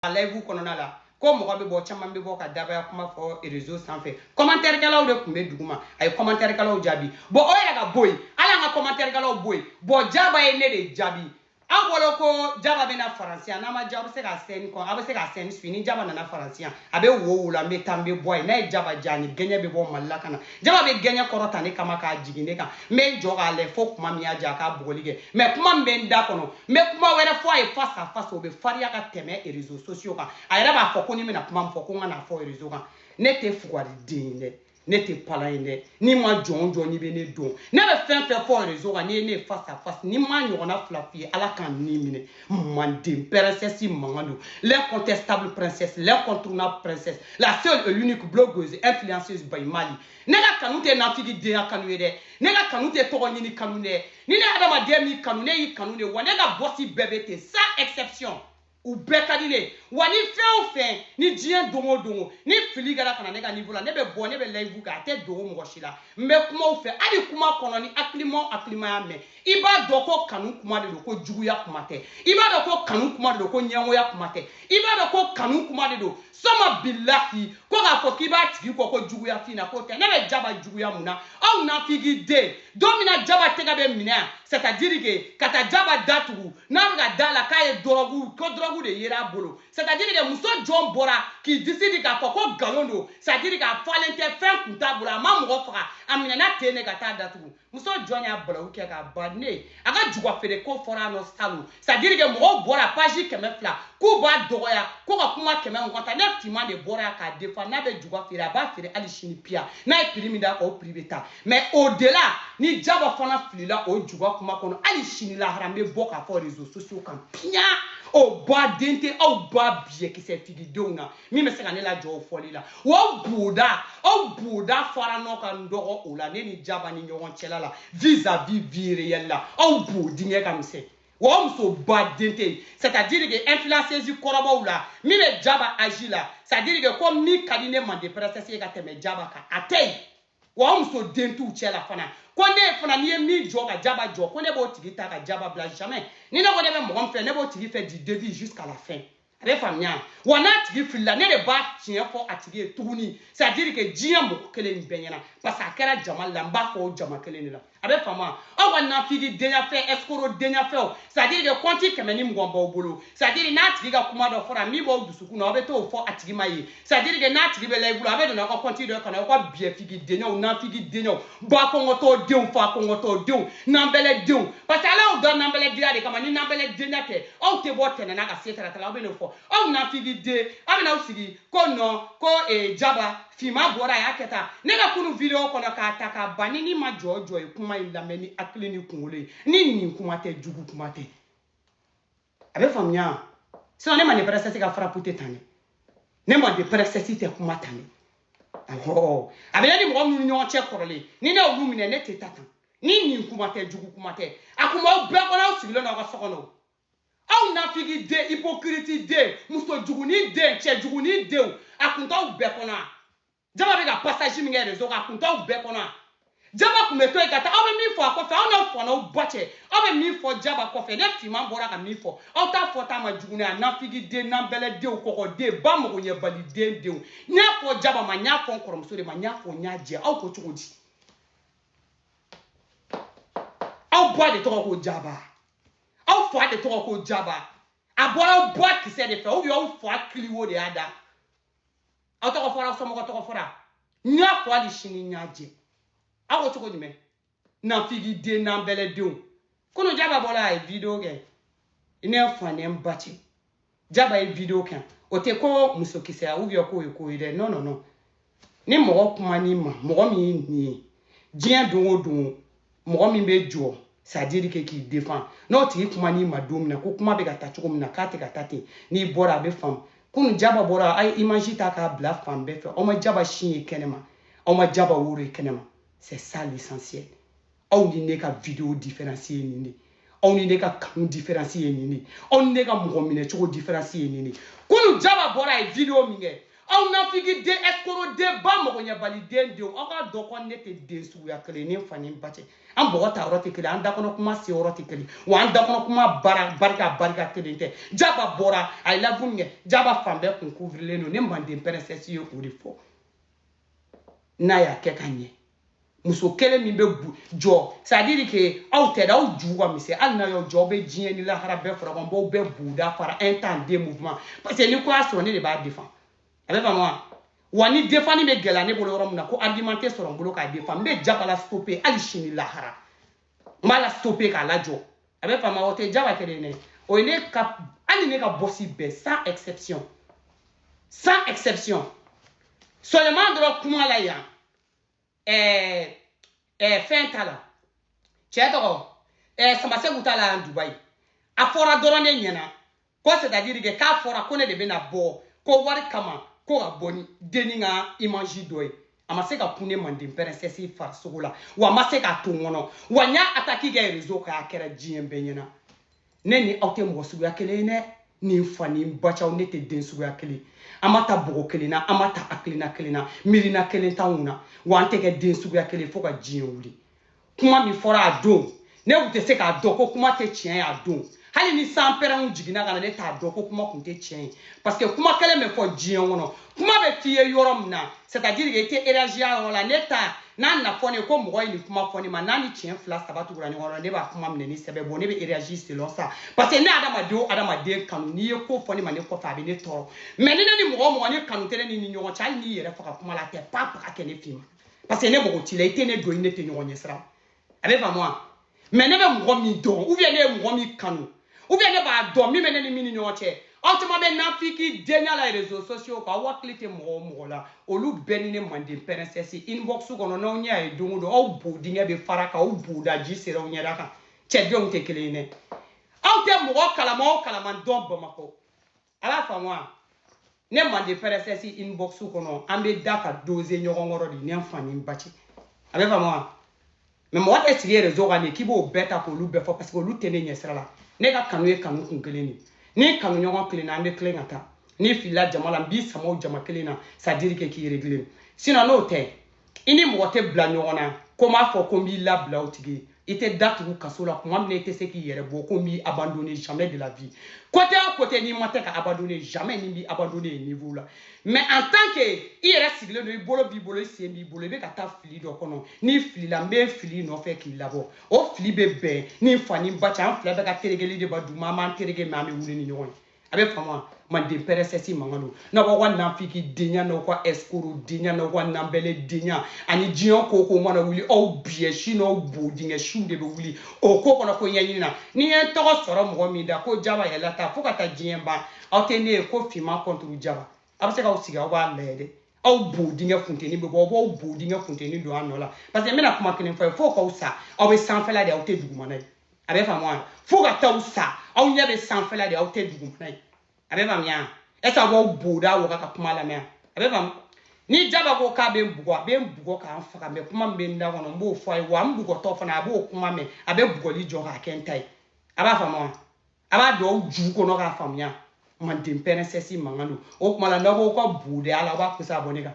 a layibu kɔnɔna la ko mɔgɔ bɛ bɔ caman bɛ bɔ ka dabaya kuma fɔ réseau sanfɛ kɔmantɛrikɛlaw de tun bɛ duguma a ye kɔmantɛrikɛlaw jaabi bɔn o yɛrɛ ka bɔ yen ala an ka kɔmantɛrikɛlaw bɔ yen bɔn jaba ye ne de jaabi aw bolo ko jaba bɛna faransiya n'a ma diya a bɛ se ka sɛni kɔn a bɛ se ka sɛni su ni jaba nana faransiya a bɛ wo o wo la n bɛ taa n bɛ bɔ yen n'a ye jaba diya ni gɛɲɛ bɛ bɔ mali la ka na jaba bɛ gɛɲɛ kɔrɔta ne kama k'a jigin ne kan n bɛ n jɔ k'a lɛ fo kuma min y'a diya a ka bugɔli kɛ mais kuma min bɛ n da kɔnɔ n bɛ kuma wɛrɛ fɔ a ye face à face o bɛ fariya ka tɛmɛ réseaux sociaux kan a yɛrɛ b'a fɔ ko ni n bɛna kuma min fɔ ko n kan'a fɔ réseau kan ne tɛ fugari den ye dɛ ne tɛ palan ye dɛ ni maa jɔn jɔn n'i bɛ ne dɔn ne bɛ fɛn fɛn fɔ réseau kan n'i ye ne ye face à face ni n m'a ɲɔgɔnna fila f'i ye ala ka n ni minɛ Manden princesse mankan don, l'incontestable princesse, l'incontournable princesse, la seule et l'unique blogueuse, influenceuse by Mali. Ne ka kanu tɛ nafigi denya kanu ye dɛ, ne ka kanu tɛ tɔgɔ ɲini kanu dɛ, ni ne adamaden min kanu ne y'i kanu de wa ne ka bɔsi bɛɛ bɛ ten sans exception. u bɛɛ ka di ne wa ni fɛn o fɛn ni diɲɛ don o don o ni fili kɛra ka na ne ka niveau la ne bɛ bɔ ne bɛ layibu kɛ a tɛ dogo mɔgɔ si la n bɛ kuma u fɛ hali kuma kɔnɔ ni hakilima o hakilima y'a mɛn i b'a dɔn ko kanu kuma de don ko juguya kuma tɛ i b'a dɔn ko kanu kuma de don ko ɲɛngoya kuma tɛ i b'a dɔn ko kanu kuma de don suma bilahi ko k'a fɔ k'i b'a tigi kɔ ko juguya f'i na k'o tɛ ne bɛ jaba juguya mun na aw nafigi den don min na jaba tɛgɛ bɛ minɛ yan c'est-à-dire que ka taa jaba datugu n'a bɛ ka da la k'a ye dɔrɔgu ko dɔrɔgu de yera a bolo c'est-à-dire que muso jɔn bɔra k'i disi di k'a fɔ ko nkalon don c'est-à-dire k'a falen tɛ fɛn kun t'a bolo a ma mɔgɔ faga a minɛna ten de ka taa datugu muso jɔn y'a balawu kɛ k'a ban ne ye a ka juga feere ko fɔra a nɔ salon c'est à dire que mɔgɔw bɔra paji kɛmɛ fila k'u b'a dɔgɔya ko ka kuma kɛmɛ mugan ta ne finman de bɔra yan k'a défend n'a bɛ juga feere a b'a feere hali sini piya n'a ye prix min d'a kan o prix bɛ ta mais au-delà ni jaba fana filila o juga kuma kɔnɔ hali sini lahara n bɛ bɔ k'a fɔ réseaux sociaux kan piya o ba den tɛ aw ba biyɛkisɛ tigidenw na min bɛ se ka ne lajɔ o fɔli la aw boda aw boda fara ɲɔgɔn kan dɔgɔ o la ne ni jaba ni ɲɔgɔn cɛla la vis à vis vie réelle la aw bo dingɛ ka misɛn aw musoba den tɛ yen c'est à dire que influenceuse kɔrɔbaw la min bɛ jaba âge la c'est à dire que ko min ka di ne manden princesse ye ka tɛmɛ jaba kan a tɛ yen wa muso den t'u cɛ la fana ko ne fana n'i ye min jɔ ka jaba jɔ ko ne b'o tigi ta ka jaba bila jamais ni ne ko ne bɛ mɔgɔ min fɛ ne b'o tigi fɛ du début jusqu'à la fin a bɛ faamuya wa n'a tigi filila ne de b'a tiɲɛ fɔ a tigi ye tuguni c'est à dire que diɲɛ mɔgɔ kelen nin bɛɛ ɲɛna parce que a kɛra jama la n b'a fɔ o jama kelen de la a bɛ faamuya aw ka nafigi denyafɛn escroc denyafɛnw c'est à dire que kɔnti kɛmɛ ni mugan b'aw bolo c'est à dire n'a tigi ka kuma dɔ fɔra min b'aw dusukun na aw bɛ t'o fɔ a tigi ma ye c'est-à-dire que n'a tigi bɛ live la a bɛ don aw ka compte dɔ kɔnɔ aw ka biyɛfigi denyaw nafigi denyaw ba kɔngɔtɔ denw fa kɔngɔtɔ denw nanbɛlɛ denw parce que ala y'aw da nanbɛlɛ denya de kama ni nanbɛlɛ denya tɛ aw tɛ bɔ tɛnɛna ka se taratala aw bɛ n'o fɔ aw nafigi den aw bɛ n'aw sigi ko non ko eh, jaba finma bɔra a y'a kɛ tan ne ka kunu video kɔnɔ k'a ta k'a ban ni ni maa jɔnjɔn ye kuma in lamɛn ni hakili ni kunkolo ye ni nin kuma tɛ jugu kuma tɛ a bɛ faamuya sinon ne manden princesse ka frappe tɛ tan dɛ ne manden princesse tɛ kuma tan dɛ awɔ a bɛ ne ni mɔgɔ minnu ɲɔgɔn cɛ kɔrɔlen ni ne y'olu minɛ ne tɛ taa tan ni nin kuma tɛ jugu kuma tɛ a kun b'aw bɛɛ kɔnɔ aw sigilen don aw ka so kɔnɔ aw nafigi den hypocrite den muso jugunin den cɛ jugunin denw a kun t'aw bɛɛ kɔnɔ a jaba bɛ ka passage min kɛ réseau kan a kun t'aw bɛɛ kɔnɔ a jaba kun bɛ to yen ka taa aw bɛ min fɔ a kɔfɛ aw n'aw fa n'aw ba cɛ aw bɛ min fɔ jaba kɔfɛ ne finman bɔra ka min fɔ aw t'a fɔ t'a ma jugu n'a nafigiden nanbɛlɛdenw kɔkɔden ba magoɲɛbaliden denw n y'a fɔ jaba ma n y'a fɔ n kɔrɔmuso de ma n y'a fɔ n y'a jɛ aw ko cogo di aw ba de tɔgɔ ko jaba aw fa de tɔgɔ ko jaba a bɔra aw ba kisɛ de fɛ ou bien aw fa kiliwo de y'a da aw tɔgɔ fɔra aw somɔgɔ tɔgɔ fɔra n y'a fɔ hali sini n y'a jɛ aw ko cogo jumɛn nafigi den nanbɛlɛdenw kunu jaba bɔla a ye video kɛ i n'i fa n'i ba cɛ jaba ye video kɛ o tɛ ko musokisɛya ou bien k'o ye ko ye dɛ non non non ni mɔgɔ kuman'i ma mɔgɔ min ye nin ye diɲɛ don o don mɔgɔ min bɛ jɔ c'est-à-dire que k'i défend n'o tigi kuman'i ma don min na ko kuma bɛ ka taa cogo min na k'a tɛ ka taa ten n'i bɔra a bɛ faamu kunu jaba bɔra a ye image ta k'a bila fan bɛɛ fɛ aw ma jaba sin ye kɛnɛma aw ma jaba woro ye kɛnɛma c'est ça l'essentiel aw ni ne ka video différence ye nin de ye aw ni ne ka kanu différence ye nin de aw ni ne ka mɔgɔ minɛ cogo différence ye nin de kunu jaba bɔra a ye video min kɛ aw nafigi den escroc den ba mɔgɔɲɛbali den denw aw k'a dɔn ko ne tɛ den suguya kelen i n'i fa n'i ba cɛ an bɔgɔ ta yɔrɔ tɛ kelen an dakɔnɔ kuma se yɔrɔ tɛ kelen wa an dakɔnɔ kuma bara barika barika kelen tɛ jaba bɔra a ye live min kɛ jaba fan bɛɛ kun kuvirilen don ne manden princesse ye o de fɔ n'a y'a kɛ ka ɲɛ muso kelen min bɛ jɔ c'est-à-dire que aw tɛ aw jugu ka misɛn hali n'a y'aw jɔ aw bɛ diɲɛ ni lahara bɛɛ fara kan n b'aw bɛɛ boda fara un temps deux mouvement parce que ni ko y'a sɔrɔ ne de b'a défend a bɛ faamu wa wa ni defani bɛ gɛlɛya ne bolo yɔrɔ min na ko argument tɛ sɔrɔ n bolo k'a défend n bɛ jaba la stopper hali sini lahara n b'a la stopper k'a lajɔ a bɛ faamu wa o tɛ jaba kelen dɛ o ye ne ka hali ne ka boss bɛɛ sans exception sans exception seulement dɔrɔn kuma la yan ɛɛ ɛɛ fɛn t'a la cɛ tɔgɔ ɛɛ samaseku t'a la dubayi a fɔra dɔrɔn ne ɲɛna ko c'est-à-dire que k'a fɔra ko ne de bɛna bɔ ko wari kama ko ka bɔ ni denni ka image dɔ ye a ma se ka kun ne manden princesse farisogo la wa a ma se k'a to n kɔnɔ wa n y'a ataki kɛ réseau kan a kɛra diɲɛ bɛɛ ɲɛna ne ni aw tɛ mɔgɔ suguya kelen ye dɛ ni n fa ni ba cɛ aw ne tɛ den suguya kelen an ma ta bogo kelen na an ma ta hakilina kelen na miirina kelen t'anw na wa an tɛ kɛ den suguya kelen fo ka diɲɛ wuli kuma min fɔra a don ne tun tɛ se k'a dɔn ko kuma tɛ tiɲɛ ye a don hali ni sanpɛrɛnw jiginna ka na ne t'a dɔn ko kuma tun tɛ tiɲɛ ye parce que kuma kelen bɛ fɔ diɲɛ kɔnɔ kuma bɛ f'i ye yɔrɔ min na c'est à dire que i tɛ réagir a yɔrɔ la ne ta n'a na fɔ ne ye ko mɔgɔ ye nin kuma fɔ ne ma n'a ni tiɲɛ fila saba tugura ɲɔgɔn na ne b'a kuma minɛ ni sɛbɛ bon ne bɛ réagir selon ça parce que ne adamaden o adamaden kanu n'i ye ko fɔ ne ma ne kɔfɛ a bɛ ne tɔɔrɔ mais ni ne ni mɔgɔ o mɔgɔ ni kanu tɛ ne n'i ni ɲɔgɔn cɛ hali n'i yɛrɛ faga kuma la a tɛ pa pa ka kɛ ne fɛ yen parce que ne mago t'i la i tɛ ne dɔn i ne tɛ ɲɔgɔn ɲɛsira a bɛ faamu wa mais ne bɛ mɔgɔ min dɔn ou bien ne ye mɔgɔ min kanu ou bien ne b'a dɔn min bɛ ne ni min ni ɲɔgɔn cɛ aw caman bɛ nafiki denya la réseaux sociaux kan aw hakili tɛ mɔgɔ o mɔgɔ la olu bɛɛ ni ne manden princesse inbox kɔnɔ n'aw ɲɛ a ye don o don aw bo dingɛ bɛ fara k'aw boda ji seri aw ɲɛda kan cɛdenw tɛ kelen ye dɛ aw tɛ mɔgɔ kalama o kalama dɔn bamakɔ ala faamu wa ne mande princesse inbox kɔnɔ an bɛ da ka doze ɲɔgɔn kɔrɔ de ne fa ni ba cɛ a bɛ faamu wa mais mɔgɔ tɛ sigi réseau kan de k'i b'o bɛɛ ta k'olu bɛɛ fɔ parce que olu tɛ ne ɲɛsira la ne ka kanu ye kanu kun kelen de ni kanu ɲɔgɔn kelenna an bɛ tilen ka taa n'i filila jama la n b'i sama o jama kelen na c'est-à-dire que k'i régler sinon n'o tɛ i ni mɔgɔ tɛ bila ɲɔgɔn na ko m'a fɔ ko n b'i labila o tigi i tɛ datugu kaso la kuma min na i tɛ se k'i yɛrɛ bɔ ko n b'i abandonner jamais de la vie côté o côté n'i ma tɛ ka abandonner jamais ni n b'i abandonner yen niveau la mais en tant que i yɛrɛ sigilen don i bolo b'i bolo i sen b'i bolo i bɛ ka taa fili dɔ kɔnɔ n'i filila n bɛ fili i nɔfɛ k'i labɔ o fili bɛ bɛn ni n fa ni n ba cɛ an fila bɛɛ ka terekeli de bɛ duguma an b'an tereke mais an bɛ wuli ni ɲɔgɔn ye a bɛ faamu wa manden princesse mankan don n'aw b'aw ka nafiki denya n'aw ka escroc denya n'aw ka nanbɛlɛ denya ani diɲɛ ko ko mana wuli aw biyɛsi n'aw bo dingɛsiw de bɛ wuli o ko kɔnɔ ko ɲɛɲini na n'i ye tɔgɔ sɔrɔ mɔgɔ min da ko jaba yɛlɛ ta fo ka taa diɲɛ ban aw tɛ ne ye ko finman contre jaba aw bɛ se k'aw sigi aw b'a lajɛ dɛ aw bo dingɛ funteni bɛ bɔ aw b'aw bo dingɛ funteni don a nɔ la parce que n bɛna kuma kelen f'aw ye fo k'aw sa aw bɛ sanfɛla de aw tɛ dugumana ye a bɛ faamu wa fo ka taa aw sa aw ɲɛ bɛ sanfɛla de aw tɛ dugumana ye a bɛ faamuya wa est ce que aw b'aw boda waga ka kuma lamɛn a bɛ faamu ni jaba ko k'a bɛ n bugɔ a bɛ n bugɔ ka n faga mais kuma min bɛ n da kɔnɔ n b'o fɔ a ye wa n bugɔtɔ fana a b'o kuma mɛn a bɛ bugɔli jɔ k'a kɛ n ta ye a b'a faamu wa a b'a don aw ju kɔnɔ k'a faamuya manden princesse mankan don o tuma la n'aw ko ka boda la aw b'a kusa bɔ ne kan